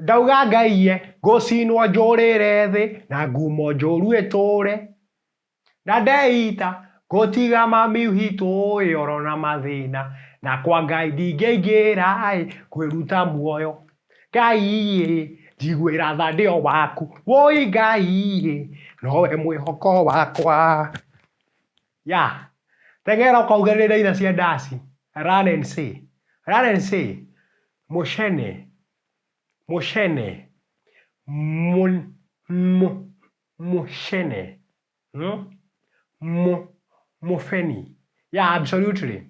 Ndauga Ngai ye, ngũcinwo njũrĩre thĩ, na ngumo njũru ĩtũre. Na ndeita, ngũtiga mami witũ ĩ, oro na mathĩna, na kwa Ngai ndingĩingĩra ĩ, kwĩruta muoyo. Ngai ĩ, njiguĩra tha ndĩ o waku, wũi Ngai ĩ, nowe mwĩhoko wakwa. Ya! Tegera ũkaugĩrĩre itha cia ndaci. Run and say. Run and say. Mũcene. Mũcene. Mũ, mũ, mũcene. Mũ, mũ, mũbeni. Ya, absolutely.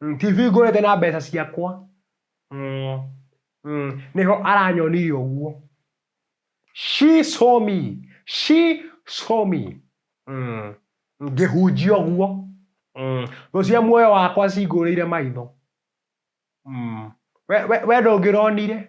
Mm, TV ngũrĩte na mbeca ciakwa. Mm, mm, nĩho aranyonire ũguo. She saw me. She saw me. Mm, ngĩhunjia ũguo. Mm, thũ cia muoyo wakwa cingũrĩire maitho. Mm, we, we, we ndũngĩronire.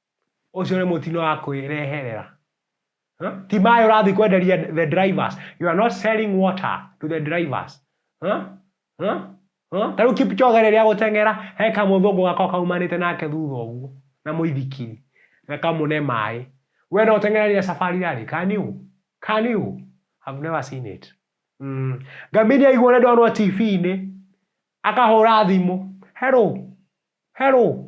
Ucio ni mutino wa kwireherera. Huh? Ti maĩ ũrathiĩ kwenderia the drivers. You are not selling water to the drivers. Huh? Huh? Huh? Ta rĩu Kipchoge rĩrĩa gũteng'era he kamũthũngũ gako kaumanĩte nake thutha ũguo na mũithikiri na kamũne maĩ. We no ũteng'era rĩrĩa safari rarĩ? Can you? Can you? I've never seen it. Mm. Ngamiri aigua ũrĩa ndonwo TV-inĩ akahũra thimũ. Hello. Hello.